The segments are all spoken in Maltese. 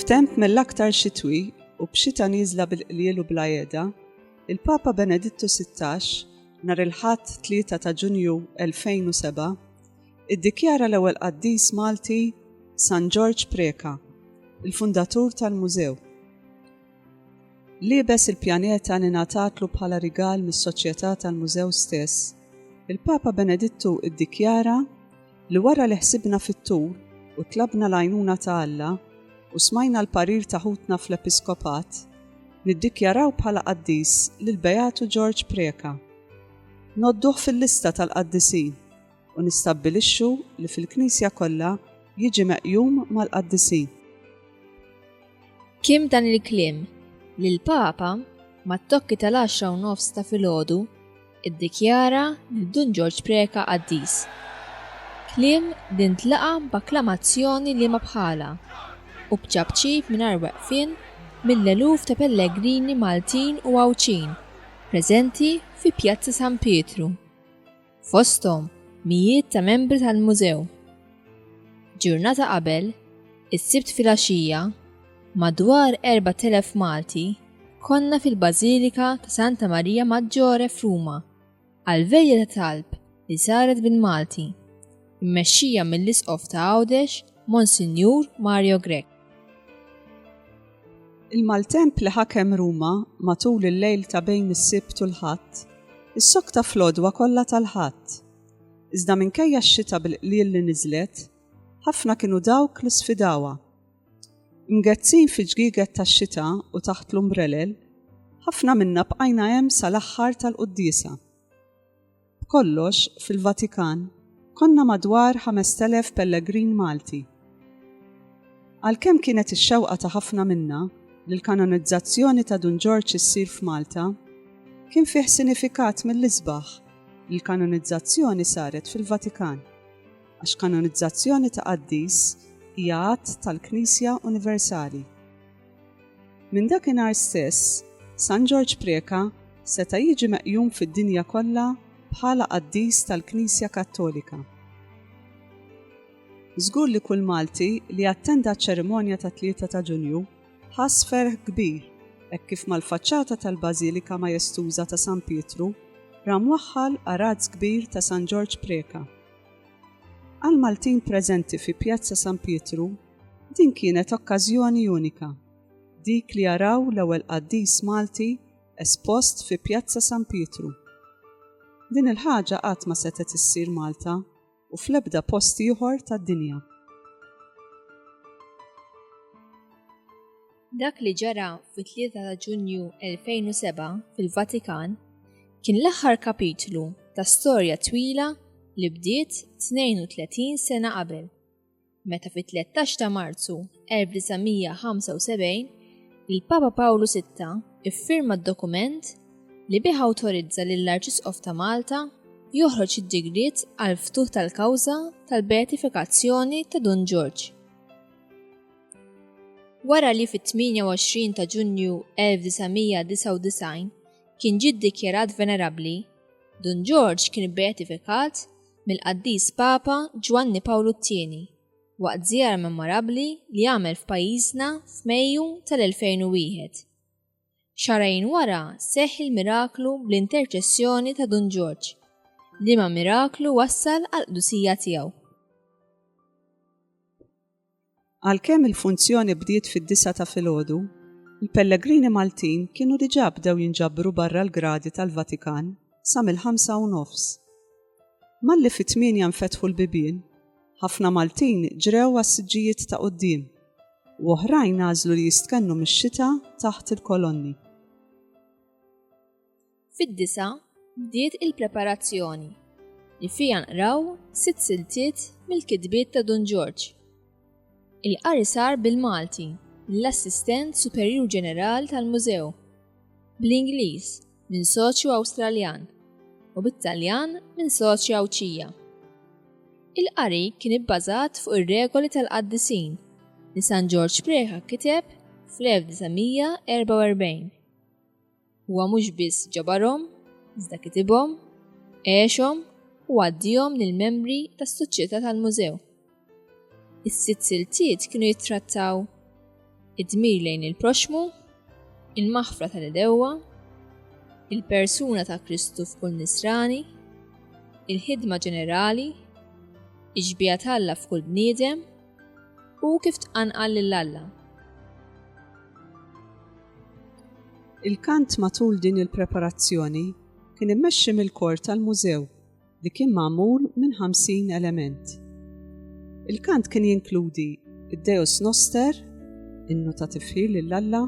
F'temp mill-aktar xitwi u b'xita niżla bil-qliel u bla jeda, il-Papa Benedittu 16 nhar il-Ħadd 3 ta' Ġunju 2007 iddikjara l-ewwel qaddis Malti San Ġorġ Preca, il-fundatur tal-Mużew. Liebes il-pjaneta li ngħatatlu bħala rigal mis-Soċjetà tal-Mużew stess, il-Papa Benedittu ddikjara li wara li ħsibna fit-tul u tlabna l-għajnuna ta' Alla u smajna l-parir ta' ħutna fl-Episkopat, niddikjaraw bħala qaddis lill-Beatu George Preca. Ngħodduh fil-lista tal-qaddisin. u nistabbilixxu li fil-Knisja kollha jiġi meqjum mal-qaddisin. Kim dan il-kliem li l-Papa mat-tokki tal-għaxra u nofs ta' filgħodu iddikjara lil Dun Ġorġ Preca qaddis. Kliem li ntlaqa' b'akklamazzjoni liema bħalha u b'ċapċip mingħajr weqfien mill-eluf ta' pellegrini Maltin u Għawdxin preżenti fi Pjazza San Pietru. fosthom mijiet ta' membri tal-Mużew. Ġurnata qabel, is-Sibt filgħaxija, madwar 4,000 Malti konna fil-Bażilika ta' Santa Maria Maggiore f'Ruma għall-veglia ta' talb li saret bil-Malti. mmexxija mill-Isqof ta' Għawdex, Monsinjur Mario Grech. Il-maltemp li ħakem Ruma matul il-lejl ta' bejn is-Sibt u l-Ħadd, issokta fl-għodwa kollha tal-Ħadd. Iżda minkejja x-xita bil-qliel li niżlet, ħafna kienu dawk li sfidawha. Imgezzin fi ġgieget tax-xita u taħt l-umbrelel, ħafna minna bqajna hemm sal-aħħar tal-quddiesa. B'kollox, fil-Vatikan, konna madwar 5,000 pellegrin Malti. Għalkemm kienet ix-xewqa ta' ħafna minna li l-kanonizzazzjoni ta' Dun Ġorġ issir f'Malta, kien fih sinifikat mill-isbaħ li l-kanonizzazzjoni saret fil-Vatikan, għax kanonizzazzjoni ta' qaddis hija att tal-Knisja universali. Minn dakinhar stess, San Ġorġ Preca seta' jiġi meqjum fid-dinja kollha bħala qaddis tal-Knisja Kattolika. Żgur li kull Malti li attenda ċ-ċerimonja tat-Tlieta ta' Ġunju ħass ferħ kbir hekk kif mal-faċċata tal-Bażilika Majestuża ta' San Pietru ra mwaħħal arazz kbir ta' San Ġorġ Preca. Għall-Maltin preżenti fi Pjazza San Pietru Din kienet okkażjoni unika, dik li jaraw l-ewwel qaddis Malti espost fi Pjazza San Pietru. Din il-ħaġa qatt ma setgħet issir Malta u fl-ebda post ieħor tad-dinja. Dak li ġara fit-3 ta' Ġunju 2007 fil-Vatikan kien l-aħħar kapitlu ta' storja twila li bdiet 32 sena qabel. meta fit-13 ta' Marzu 1975 il-Papa Pawlu Sitta iffirma d-dokument li bih awtorizza lill-Arċisqof ta' Malta joħroġ id-digriet għall-ftuħ tal-kawża tal-beatifikazzjoni ta' Dun Ġorġ. Wara li fit-28 ta' Ġunju 1999 kien ġie ddikjarat venerabbli, Dun Ġorġ kien beatifikat mill-Qaddis Papa Ġwanni Pawlu t-Tieni waqt żjara memorabbli li għamel f'pajjiżna f'Mejju tal-2001. Xahrejn wara seħħ il-miraklu bl-interċessjoni ta' Dun Ġorġ, liema miraklu wassal għall-qdusija tiegħu. Għalkemm il-funzjoni bdiet fid-disgħa ta' filgħodu, il-pellegrini Maltin kienu diġà bdew jinġabru barra l-gradi tal-Vatikan sa mill-ħamsa u nofs. Malli fit-tmienja nfetħu l-bibien, ħafna Maltin ġrew għas-siġġijiet ta' quddiem u oħrajn għażlu li jistkennu mix-xita taħt il-kolonni. Fid-disa bdiet il-preparazzjoni li fiha nqraw sitt siltiet mill-kitbiet ta' Dun Ġorġ. Il-qari sar bil-Malti mill-Assistent Superjur Ġeneral tal-Mużew, bl-Ingliż minn soċju Awstraljan u bit-Taljan minn soċja Għawdxija. Il-qari kien ibbażat fuq ir-regoli tal-qaddisin li San Ġorġ Preca kiteb fl-1944. Huwa mhux biss ġabarhom, iżda kitibhom, għexhom u għaddihom lill-membri tas-Soċjetà tal-Mużew. Is-sitt siltiet kienu jittrattaw id-dmir lejn il-proxxmu, il-maħfra tal-idewwa, il-persuna ta' Kristu f'kull nisrani, il-ħidma ġenerali, ix-xbieha t'Alla f'kull bniedem, U kif tqanqal lil Alla? Il-kant matul din il-preparazzjoni kien immexxi mill-kor tal-mużew li kien magħmul minn 50 element. Il-kant kien jinkludi id-Deus Noster, innu ta' tifħir lil Alla,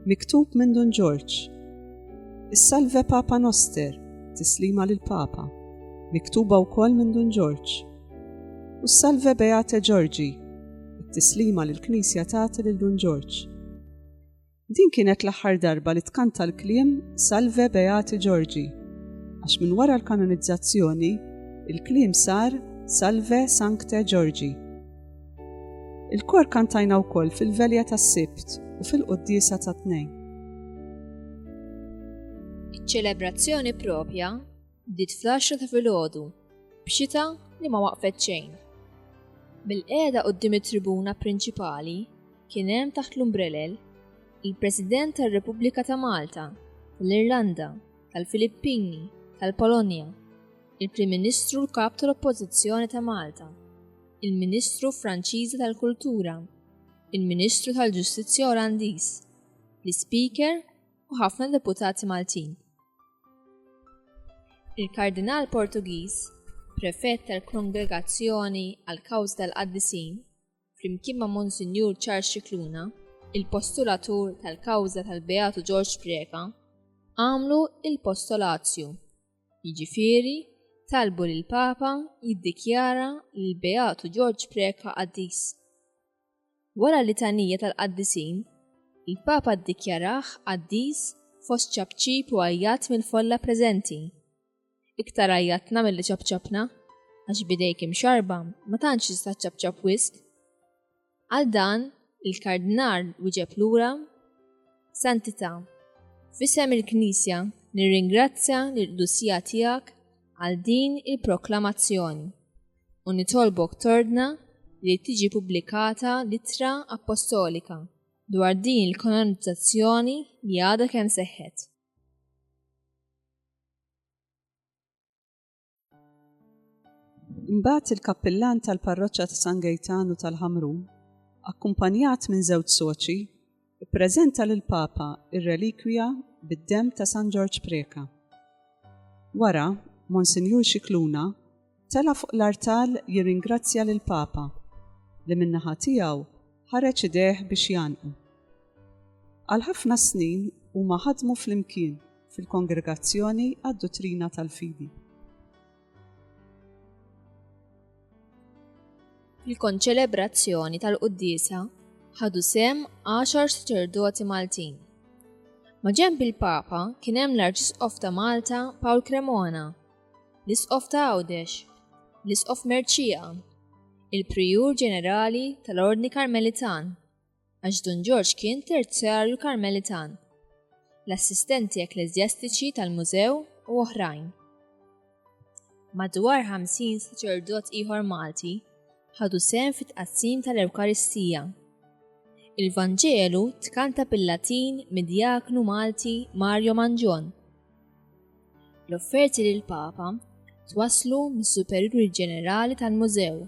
miktub minn Dun Ġorġ. Is-Salve Papa Noster, tislima lil Papa, miktuba wkoll minn Dun Ġorġ. U salve Beate Ġorġi, it-tislima li l-Knisja tagħti lil Dun Ġorġ. Din kienet l-aħħar darba li tkanta l-kliem Salve Beate Ġorġi, għax minn wara l-kanonizzazzjoni il-kliem sar Salve Sancte Ġorġi. Il-kor kantajna wkoll fil-velja tas-sibt u fil-qoddisa tat-tnejn. Iċ-ċelebrazzjoni propja Bdiet fl-għaxra ta' filgħodu, b'xita li ma waqfet xejn. Bil-qiegħda quddiem it-tribuna prinċipali kien hemm taħt l-umbrelel il-President tar-Repubblika ta' Malta, tal-Irlanda, tal-Filippini, tal-Polonja, il-Prim Ministru l-Kap tal-Oppożizzjoni ta' Malta, il-Ministru Franċiża tal-Kultura, il-Ministru tal-Ġustizzja Olandiż, l-Ispeaker u ħafna deputati Maltin. Il-Kardinal Portugiż, prefett tal-Kongregazzjoni għal kawż tal-Qaddisin, flimkien ma' Monsinjur Charles Cicluna, il-postulatur tal-kawża tal-Beatu George Preka, għamlu il-postolazju, jiġifieri talbu lill-Papa jiddikjara lill-Beatu George Preka qaddis. Wara litanija tal-qaddisin, il-Papa ddikjarah qaddis fost ċapċip u għajjat mill-folla preżenti. Iktar għajjatna milli ċapċapna, għax b'idejk imxarrba ma tantx tista' ċċapċap wisq. Għal dan, il-Kardinal wieġeb lura, Santità, f'isem il-Knisja nirringrazzja lill-Qdusija tiegħek għal din il-proklamazzjoni. u nitolbok tordna li tiġi pubblikata l-ittra appostolika dwar din il-kanonizzazzjoni li għadha kemm seħħet. Imbagħad il-kappillan tal-parroċċa ta' San Gejtanu tal-Ħamrun, akkumpanjat minn żewġ soċi, Ippreżenta lill-Papa r-relikwija bid-demm ta' San Ġorġ Preca. Wara, Monsinjur Scicluna tela' fuq l-artal jirringrazzja lill-Papa li min-naħa tiegħu ħareġ idejh biex jgħannqu. Għal ħafna snin huma ħadmu flimkien fil-Kongregazzjoni għad-Duttrina tal-Fidi. Fil-konċelebrazzjoni tal-quddiesa ħadu sem għaxar saċerdoti Maltin. Maġemb il-Papa kien hemm l-Arċisqof ta' Malta Paul Cremona, l-Isqof ta' Għawdex, l-Isqof Merċija, il-Prijur Ġenerali tal-Ordni Karmelitan, għax Dun Ġorġ kien Terzjarju Karmelitan, l-assistenti ekkleżjastiċi tal-mużew u oħrajn. Madwar 50 saċerdot ieħor Malti ħadu sehem fit-tqassim tal-Ewkaristija. Il-Vanġelu tkanta bil-Latin mid-djaknu Malti Mario Mangion. L-offerti lill-Papa twasslu mis-Superjuri Ġenerali tal-Mużew,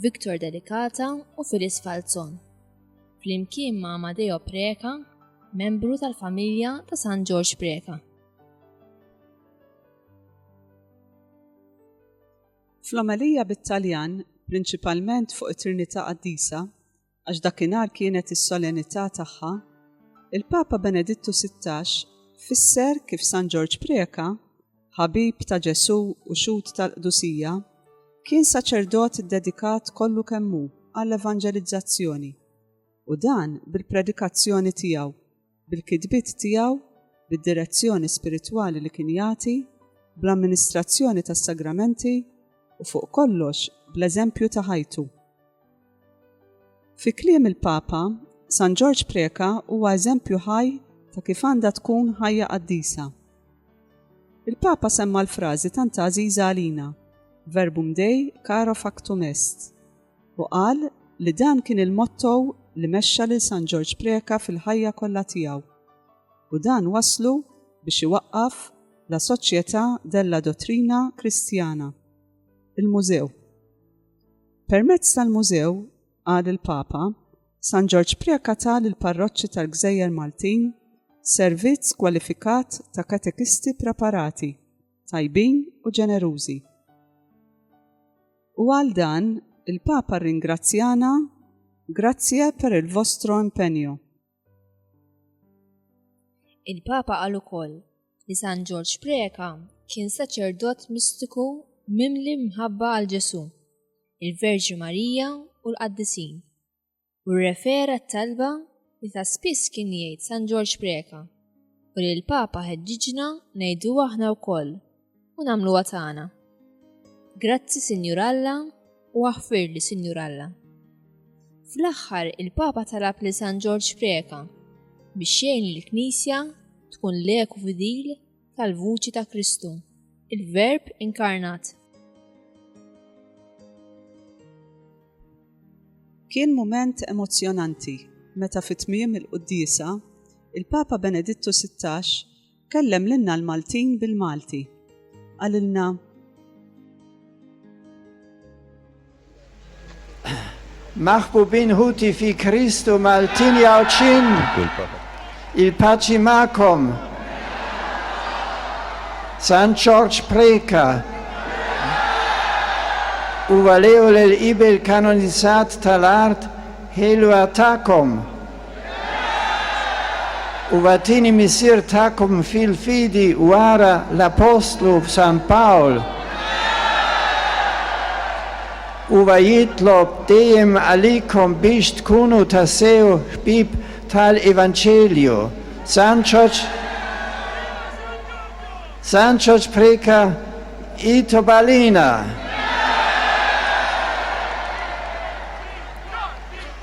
Victor Delicata u Phyllis Falzon, flimkien ma' Amadeo Preca, membru tal-familja ta' San Ġorġ Preca. Fl-omelija bit-Taljan, prinċipalment fuq it-Trinità Qaddisa, għax dakinhar kienet is-solenità tagħha, il-Papa Benedittu Sittax fisser kif San Ġorġ Preca, ħabib ta' Ġesù u xhud tal-qdusija, kien saċerdot iddedikat kollu kemm hu għall-evanġelizzazzjoni, u dan bil-predikazzjoni tiegħu. bil-kitbiet tiegħu, bid-direzzjoni spiritwali li kien jagħti, bl-amministrazzjoni tas-sagramenti, u fuq kollox bl-eżempju ta' ħajtu. Fi kliem il-Papa, San Ġorġ Preca huwa eżempju ħaj ta' kif għandha tkun ħajja qaddisa. Il-Papa semma l-frażi tant għażiża għalina, Verbum Dei caro factum est. u qal li dan kien il-motto li mexxa lil San Ġorġ Preca fil-ħajja kollha tiegħu u dan wasslu biex iwaqqaf La Società della Dottrina Cristiana, il-Mużew. Permezz tal-Mużew, qal il-Papa, San Ġorġ Preca ta lill-parroċċi tal-gżejjer Maltin servizz kwalifikat ta' katekisti preparati tajbin u ġenerużi. U għal dan, il-Papa rringrazzjana Grazie per il vostro impegno. Il-Papa għal ukoll li San Ġorġ Preka kien saċerdot mistiku mimli mħabba għal Ġesu, il-Verġi Marija u l-Qaddisin. u rrefera t-talba li ta' spiss kien jgħid San Ġorġ Preca u li l-Papa ħeġġiġna ngħidu aħna wkoll u nagħmluha tagħna. Grazzi Sinjur Alla u aħfir li Sinjur Alla. Fl-aħħar il-Papa talab li San Ġorġ Preca biex jgħin il-Knisja tkun leku fidil tal-vuċi ta' Kristu, il-Verb inkarnat. Kien mument emozzjonanti meta fi tmiem il-Quddisa il-Papa Benedittu 16 kellem lilna l-Maltin bil-Malti. Qalilna Maħbubin ħuti fi Kristu Maltin Għawdxin, il-paċi magħkom. San Ġorġ Preca huwa l-ewwel qibel kanonizzat tal-art ħelwa tagħkom. Huwa t-tieni missier tagħkom fil-fidi wara l-appostlu San Pawl. Huwa jitlob dejjem għalikom biex tkunu tassew ħbieb tal-Evanġelju. San Ġorġ San Ġorġ Preca jitlob għalina.